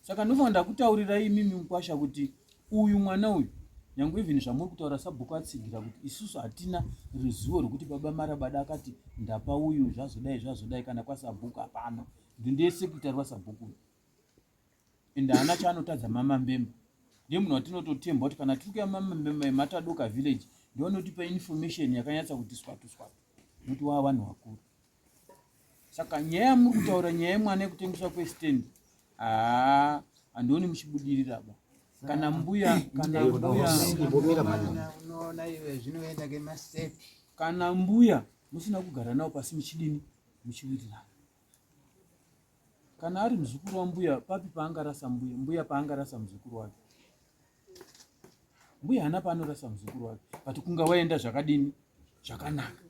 saka ndinofanira ndakutaurira imimi mukwasha kuti uyu mwana uyu nyange even zvamuri kutaura sabhuku atsigira kuti isusu hatina ruzivo rwekuti baba marabada akati ndapa uyu zvazodai zvazodai kana kwasabhuku hapana ndindesekitari wasabhuku uyu and haana chaanotadza mama mbemba ndiye munhu watinototemba kuti kana tiri kuya mama mbemba yematadoka village ndovanotipa information yakanyatsa kuti swatu swatu nokuti waa vanhu vakuru saka nyaya yamuri kutaura nyaya yemwana yekutengeswa kwestand haa handioni muchibudirira ba kana mbuya kana mbuya kana mbuya musina kugara navo pasi muchidini muchiwirirana Kana ari muzukuru wambuya papi paangarasa mbuya? Mbuya paangarasa muzukuru wake? Mbuya hana paanorasa muzukuru wake, but kunga waenda zvakadini zvakanaka.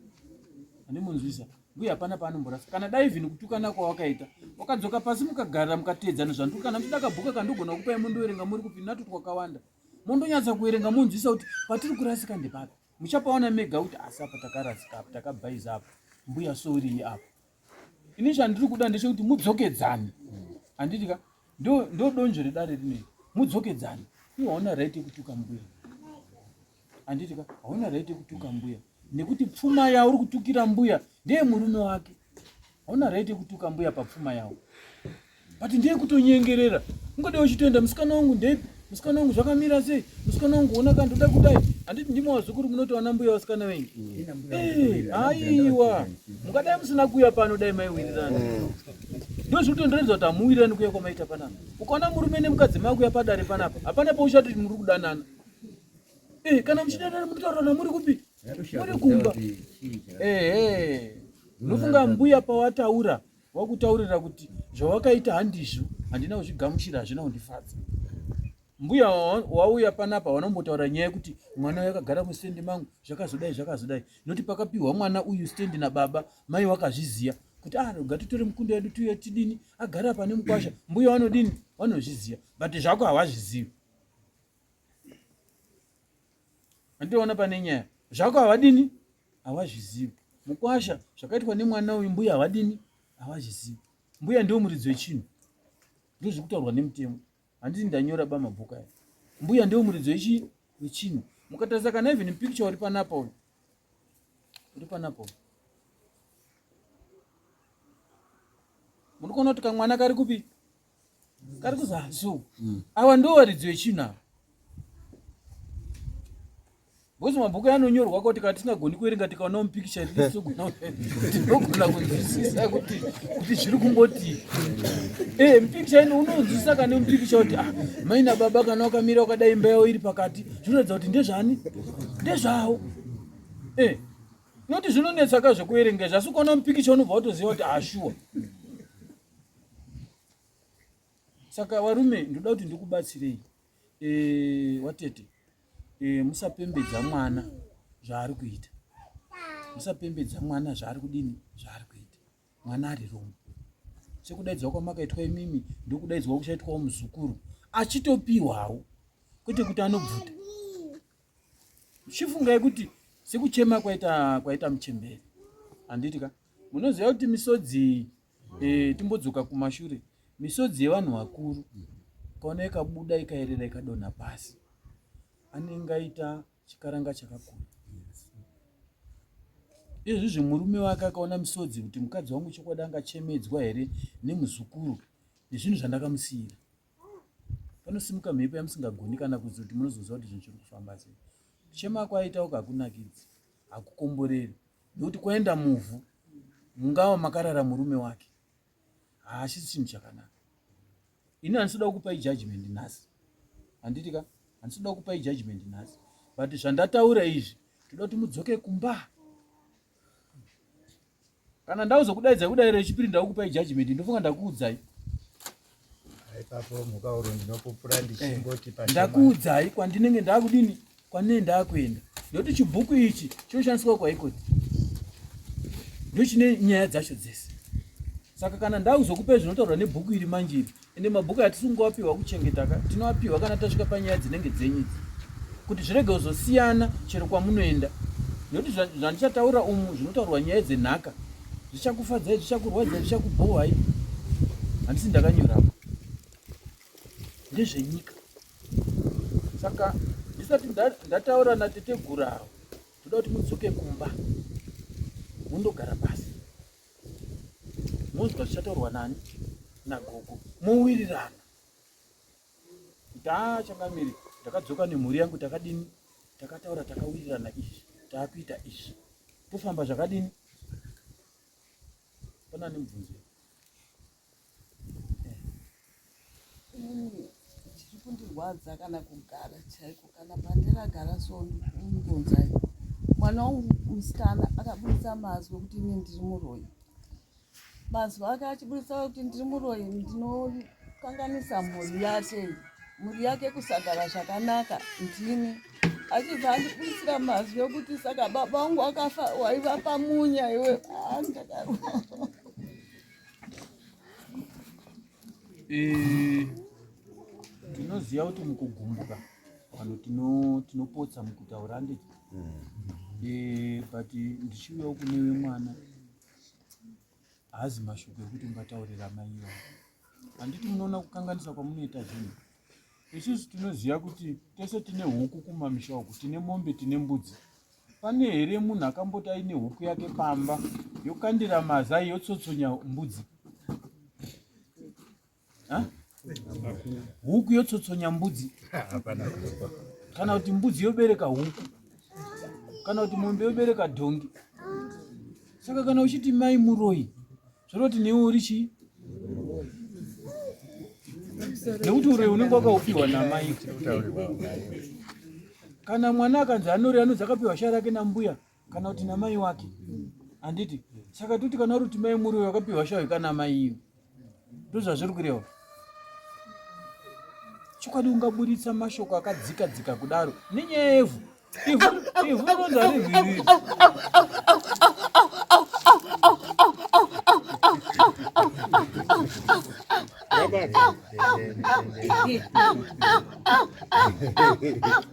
Andimunzwisa mbuya hapana paanomborasa. Kana dai vhini kutukana kwawakaita wakadzoka pasi mukagara mukateedzana zvandu kana mchida kabhuka kandogona kukupai mondoverenga muri kupi natu twakawanda mondonyatsa kuverenga monzwisa kuti patiri kurasika ndepapi muchapaona mega kuti asi apa takarasika apa takabhaiza apa mbuya sorii apa ini chandiri kuda ndechekuti mudzokedzane handiti ka ndo donzvo redare rinei mudzokedzane iwe hauna right yekutuka mbuya handiti ka hauna right yekutuka mbuya nekuti pfuma yauri kutukira mbuya ndeye murume wake hauna right yekutuka mbuya papfuma yawo but ndeye kutonyengerera ungadei uchitoenda musikana wangu ndepi musikana wangu zvakamira sei musikana wangu ona kana ndoda kudai handiti ndimo wazukuru munotowana mbuya vasikana venyu aiwa mungadai musina kuuya pano dai maiwirirana ndozvikutondiratidza kuti hamuwirirani kuya kwamaita panapa ukaona murume nemukadzi makuya padare panapa hapana pauchati muri kudanana eh, kana muchidanana munotaurana muri kupi muri kumba ehe unofunga mbuya pawataura wakutaurira kuti zvawakaita handizvo handina kuzvigamuchira hazvina kundifadza mbuya wauya panapa wanombotaura nyaya yekuti mwana uyu akagara mustendi mangu zvakazodai zvakazodai noti pakapiwa mwana uyu stendi nababa mai wakazviziva kuti ah roga titore mukunda yedu tuye tidini agara pane mukwasha mbuya wanodini wanozviziva but zvako hawazvizivi andiona pane nyaya zvako havadini havazvizivi mukwasha zvakaitwa nemwana uyu mbuya havadini havazvizivi mbuya ndiwo muridzi wechinhu ndozviri kutaurwa nemutemo handiti ndanyora ba mabhuku aya mbuya ndiwo muridzi wechii wechinhu mukatarisa kana even picture uri panapa uyu uri panapa uyu munokona kuti kamwana kari kupi kari kuzanzu mm. awa ndo varidzi vechinhu ava bcause mabhuku anonyorwa kuti kana tisingagoni kuerenga tikaonawo mupikicha riisogona tinogona kunzwisisa kuti kuti zviri kungoti e eh, mupikicha ino unonzwisisa kane mupikicha kuti ah maina baba kana wakamira wakadai imba yawo iri pakati zvinoratidza kuti ndezvani ndezvawo e eh, noti zvinonetsaka zvekuerenga zvasi ukaona mupikicha unobva watoziva kuti ashuwa ah, saka varume ndoda kuti ndikubatsirei e, watete e, musapembedza mwana zvaari kuita musapembedza mwana zvaari kudini zvaari kuita mwana ari roma sekudaidzwa kwamakaitwa imimi ndokudaidzwa kuchaitwawo muzukuru achitopiwawo kwete kuti anobvuta chifungai kuti sekuchema kwaita kwaita muchemberi handiti ka munoziva kuti misodzi Eh, timbodzoka kumashure misodzi yevanhu vakuru kaona ikabuda ikaerera ikadonha pasi anenge aita chikaranga chakakura izvi zvemurume wake akaona misodzi kuti mukadzi wangu chokwadi angachemedzwa here nemuzukuru nezvinhu zvandakamusiyira panosimuka mhepo yamusingagoni kana kuzi kuti munozoziva kuti zvinhu zviri kufamba sei kuchema kwaitauka hakunakidzi hakukomboreri nekuti kuenda muvhu mungava makarara murume wake haachisi chinhu chakanaka ini handisoda kukupai judgment nhasi handiti ka handisoda kukupai judgment nhasi but zvandataura izvi toda kuti mudzoke kumba kana ndauzokudaidza kudairo yechipiri ndakukupai judgment ndofunga ndakuudzai Ipapo mukauro ndinopupura ndichingoti eh, pashoma. Ndakuudzai kwandinenge ndakudini kwanee ndakuenda ndokuti chibhuku ichi chinoshandiswa kwaikoti ndochine nyaya dzacho dzese saka kana ndakuzokupai zvinotaurwa nebhuku iri manje iri ende mabhuku atisingoapiwa kuchengeta ka tinoapiwa kana tasvika panyaya dzinenge dzenyu idzi kuti zvirege kuzosiyana chero kwamunoenda nekuti zvandichataura umu zvinotaurwa nyaya dzenhaka zvichakufadzai zvichakurwadzai zvichakubhohwai handisi ndakanyora apa ndezvenyika saka ndisati ndataura natetegura avo toda kuti mudzoke kumba mundogara pasi munzwa zvichataurwa nani nagogo mowirirana taa changamire takadzoka nemhuri yangu takadini takataura takawirirana izvi taakuita izvi tofamba zvakadini pana nemubvunzo chiri kundirwadza kana kugara chaiko kana pandiragara so ndikungonzai mwana wangu musikana akabudisa mazwi okuti ine ndiri muroyi Mazwi ake achiburitsa kuti ndiri muroyi ndinokanganisa mhuri yake mhuri yake kusagara zvakanaka ndini achibva andibudisira mazwi okuti saka baba wangu akafa waiva pamunya iwe ah, ndakaro eh, tinoziva kuti mukugumbuka vanhu tinopotsa mukutaura nditi hmm. eh, but ndichiuyawo kunewe mwana haazi mashoko ekuti ungataurira mai ivo handiti munoona kukanganisa kwamunoita zvinhu isusu tinoziva kuti tese tine huku kumamisha uku tine mombe tine mbudzi pane here munhu akamboti aine huku yake pamba yokandira mazai yotsotsonya mbudzi huku yotsotsonya mbudzi kana kuti mbudzi yobereka huku kana kuti mombe yobereka dhongi saka kana uchiti mai muroyi zvoroti newe uri chii nekuti uroyi unenge wakaupiwa namai kana mwana akanzi anori anonzi akapiwa shaya rake nambuya kana kuti namai wake handiti saka toti kana ruti mai muriwo yakapiwa shawo ikana mai iyo ndozvazviri kureva chokwadi ungaburitsa mashoko akadzika dzika kudaro nenyaya yevhu ivhu ronza rivhiriri Bye-bye.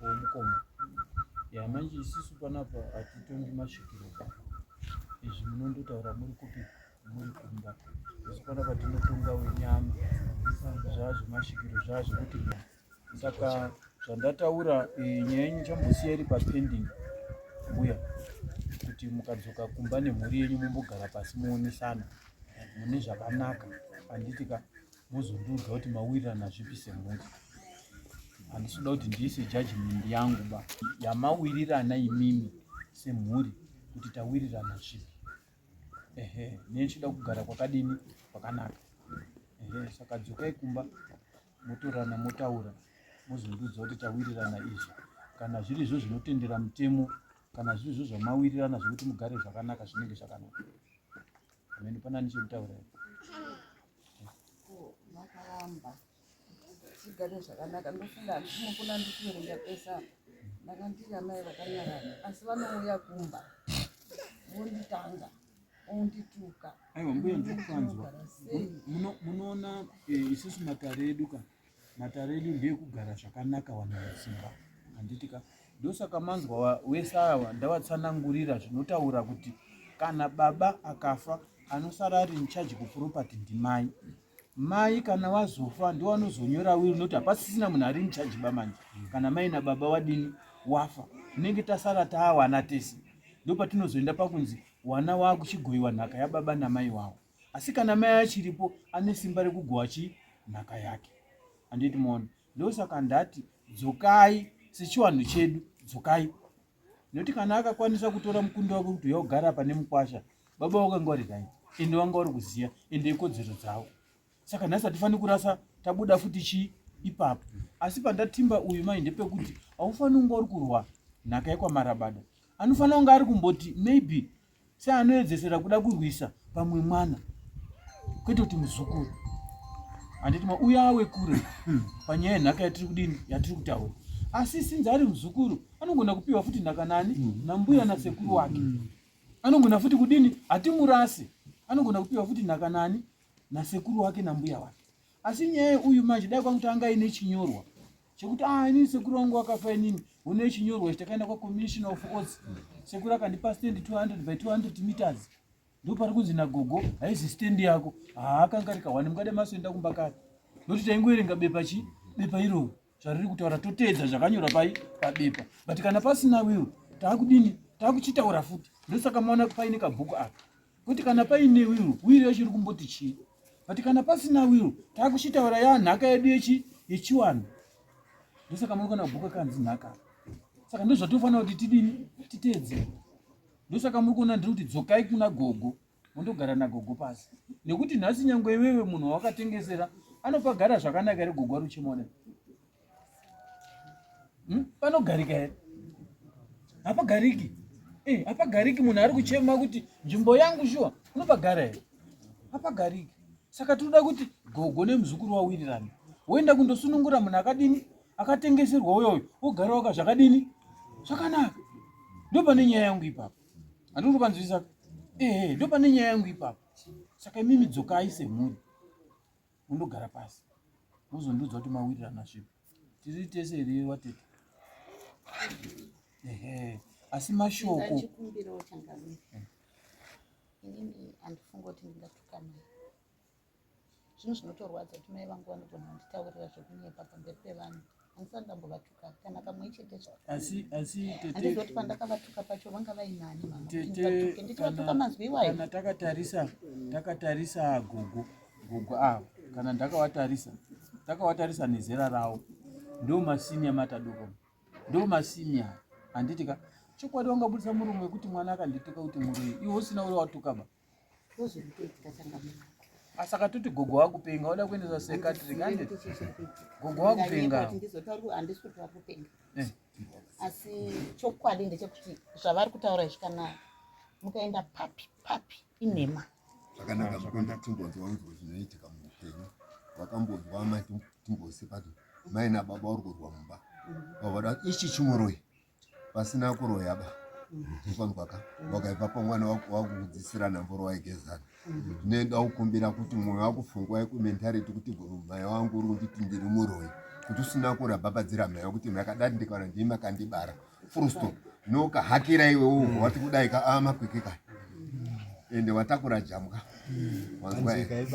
womukoma ya manje isisu panapa hatitongi masvikiro izvi munondotaura muri kupi saka zvandataura eh, nyaya yenyu chambosiya iri papending mbuya kuti mukadzoka kumba nemhuri yenyu mumbogara pasi muonesana mune zvakanaka handiti ka mozondiudza kuti mawirirana zvipi semhuri handisi kuda kuti ndiise judgment yangu ba yamawirirana imimi semhuri kuti tawirirana zvipi ehe neni chida kugara kwakadini kwakanaka ehe saka dzokai kumba motorana motaura mozondiudza kuti tawirirana izvi kana zviri zvo zvinotendera mutemo kana zviri zvo zvamawirirana zvekuti mugare zvakanaka zvinenge zvakanaka amene panani chekutaura tigare zvakanaka ndofunga handisi mukuna ndikuverenga pesa ndakandiri amai vakanyarana asi vanouya kumba vonditanga ondituka aiwa mbuya ndikukanzwa munoona eh, isusu matare edu ka matare edu ndeekugara zvakanaka vanhu vasimba handiti ka ndosaka manzwa wese awa ndavatsanangurira zvinotaura kuti kana baba akafa anosara ari incharge kuproperty ndimai mai kana wazofa ndiwo anozonyora will noti hapasisina munhu ari incharge bamanje kana mai nababa wadini wafa tinenge tasara taawana tese ndo patinozoenda pakunzi wana waakuchigoiwa nhaka yababa namai wawo asi kana mai achiripo ane simba rekugowa chi nhaka yake anditi mona ndosaka ndati dzokai sechiwanhu chedu dzokai nekuti kana akakwanisa kutora mukundi wake kuti yogara pane mukwasha baba wakanga vari kanyi ende wanga wari kuziva ende ikodzero dzavo saka nhasi hatifaniri kurasa tabuda futi chii ipapo asi pandatimba uyu mai ndepekuti haufaniri kunge uri kurwa nhaka yekwamarabada anofanira kunge ari kumboti maybe seanoedzesera kuda kurwisa pamwe mwana kwete kuti muzukuru handiti mauya awe kure panyaya yenhaka yatiri kudini yatiri kutaura asi sinzi ari muzukuru anogona kupiwa futi nhaka nani mm. nambuya nasekuru wake mm. anogona futi kudini hatimurasi anogona kupiwa futi nhaka nani nasekuru wake nambuya wake asi nyaya uyu manje dai kwakutanga ine chinyorwa chekuti ah ini sekuru wangu wakafa inini une chinyorwa chitakaenda kwa commissioner of oats sekuru akandipa stand 200 by 200 meters ndo pari kunzi na gogo haizi stand yako ah akanga rika wani mukade maso enda kumba kare noti taingoerenga bepa chi bepa iro zvariri kutaura totedza zvakanyora pai pabepa but kana pasina will takudini takuchitaura futi ndosaka maona paine kabhuku aka kuti kana paine wiro wiro yacho iri kumboti chii but kana pasina wiro taakuchitaura ya nhaka yedu yechi yechiwanhu ndosaka munokona kubhuka kanzi nhaka saka ndozvatofanira kuti tidini titeedze ndosaka muri kuona ndiri kuti dzokai kuna gogo mondogara nagogo pasi nekuti nhasi nyangwe iwewe munhu wawakatengesera anopagara zvakanaka ere gogo ari uchimona Hmm? Panogarika here? Hapagariki. Eh, hapagariki munhu ari kuchema kuti nzvimbo yangu shuwa unopagara here? Hapagariki. Saka tinoda kuti gogo nemuzukuru wawirirane. Woenda kundosunungura munhu akadini? Akatengeserwa uyoyo. Wogara waka zvakadini? Zvakanaka. Ndo pane nyaya yangu ipapo. Handiri kupanzwisisa. Eh, eh, ndo pane nyaya yangu ipapo. Saka imimi dzokai semhuri. wondogara pasi wozondiudza kuti mawirirana zvipi tiri tese here watete ehe asi mashoko inini handifunga kuti ndingatukanai zvinhu zvinotorwadza kuti mai vangu vanogona kunditaurira zvekunyepa pamberi pevanhu handisati ndambovatuka kana kamwe chete zvahandizoti pandakavatuka pacho vanga vainani mamateke ndichivatuka mazwi iwayo kana takatarisa takatarisa gogo gogo avo kana ndakavatarisa takawatarisa nezera ravo ndo masinia matadoko ndo masinia handiti ka chokwadi wangabudisa murume wekuti mwana akandituka kuti muroi iwe usina uri watukaba asaka toti gogo wakupenga oda kuendesa sekatrik ande gogo wakupenga eh. asi chokwadi ndechekuti zvavari kutaura izvi kana mukaenda papi papi inhema zvakanaka zvekuenda timbonzwa unzwa zvinoitika muupenyu vakambonzwa mai timbose pati mai nababa uri kurwa mumba vavada ichi chimuroyi pasina kuroya ba ikonzwaka wakaibva pamwana wakukudzisira nhamboro waigezana nenda ukumbira kuti mwoyo wakufungwa yekumentarity kuti mhaya wangu uri kunditi ndiri muroyi kuti usina kurabhabhadzira mhaya kuti makadati ndikana ndii makandibara fursto nokahakira iwe uhu wati kudai ka amakwikika ende watakura jambwa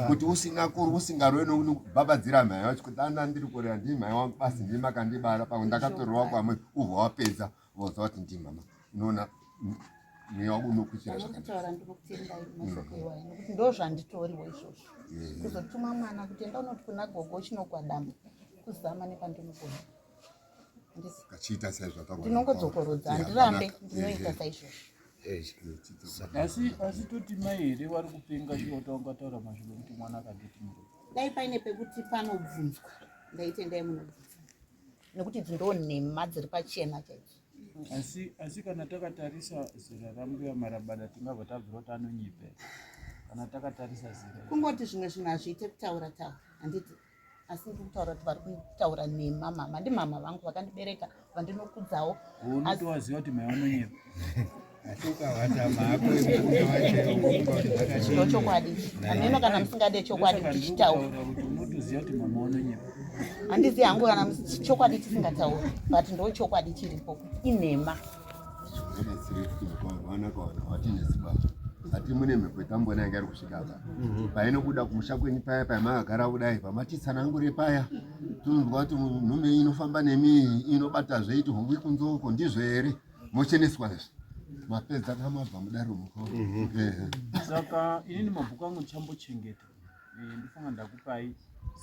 kuti usingakuri usingarwe nokuti kubhabhadzira mhai wacho kuti ana ndiri kurera ndii mhai wangu basi ndii makandibara pamwe ndakatorerwa kwamwe ubva wapedza voziva kuti ndii mama unoona mweya wako unokuchira zvakandozvanditoriwo izvozvo kuzotuma mwana kuti enda unoti kuna gogo chinogwadama kuzama nepandinogona kachiita saizvataura ndinongodzokorodza ndirambe ndinoita saizvozvo asi asi toti mai here vari kupenga chiota ungataura mashoko kuti mwana akaditi muro dai paine pekuti panobvunzwa ndaitendai munobvunza nekuti idzi ndo nhema dziri pachena chaicho asi asi kana takatarisa zera rambuya marabada tingabva tabvira kuti anonyipe kana takatarisa zera kungoti zvimwe zvinhu hazviite kutaura taura handiti asi ndiri kutaura kuti vari kutaura nhema mama ndimama vangu vakandibereka vandinokudzawo unotovaziva kuti mai vanonyepa chokwadi hameno kana musingade chokwadi kuti chitaura handizivi hangu kana chokwadi tisingatauri but ndo chokwadi chiripo inhema ati mune mhepo yetambona yanga iri kusvika apa mhm. painobuda kumusha kwenyu paya pamakagara kudai pamatitsanangure paya tinonzwa kuti nhume inofamba nemi inobata zveiti hongwi kunzoko ndizvo here mocheneswa izvi mapedza kamabva mudaro muko mhm. eh. saka inini mabhuku angu ndichambochengeta eh, ndifunga ndakupai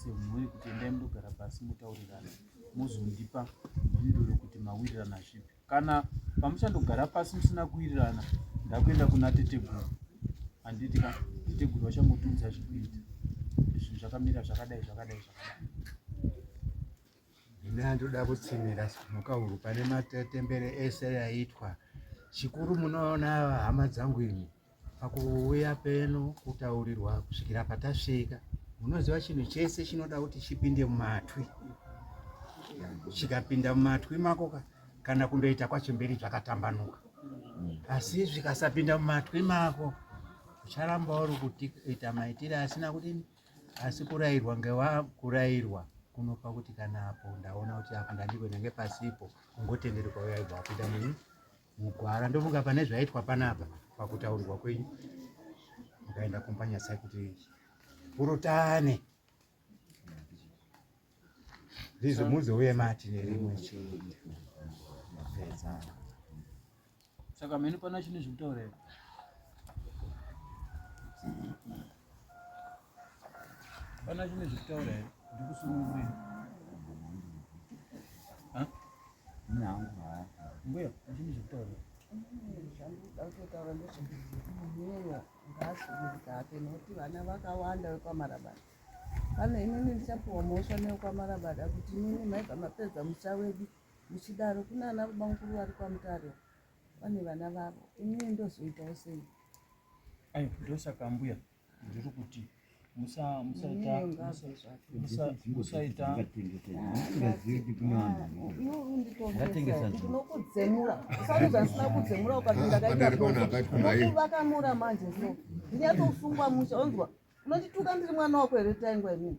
semhuri kuti endai mudogara pasi mutaurirane mozondipa mhinduro yokuti mawirirana zvipi kana pamuchandogara pasi musina kuwirirana ndakuenda kuna teteguru handiti ka teteguru vachangotiudza zvikuita zvinhu zvakamira zvakadai zvakadai zvakadai ine andoda kutsimira mhukahuru pane matembere ese yaitwa chikuru munoona hama dzangu ini Pakuuya peno kutaurirwa kusvikira patasvika, munoziva chinhu chese chinoda kuti chipinde mumatwi. Chikapinda mumatwi mako kana kundoita kwacho mberi zvakatambanuka, asi zvikasapinda mumatwi mako ucharamba uri kuita maitire asina kuti asi kurairwa ngewa kurairwa kunopa kuti kana apo ndaona kuti apa ndandikwena ngepasipo ungotenderwa yaibva wapinda muni mugwara ndofunga pane zvaitwa panapa pakutaurirwa kwenyu mukaenda kumba nyasai kuti purutane ndizvo muzouye mati nerimwe chete saka mheni pana chine zvekutaura here pana chine zvekutaura here ndikusunungurira vana vakawanda vekwamarabada kana inini ndichapiwa mhosva newekwamarabada kuti inini maibva mapedza musha wedu muchidaro kuna ana bamukuru vari kwamutare vane vana vavo inini ndozoitawo sei ayo ndosaka mbuya ndiri kuti musaitaakamura manje so ndinyatosungwa musha onzwa unondituka ndiri mwana wako here taingwa imini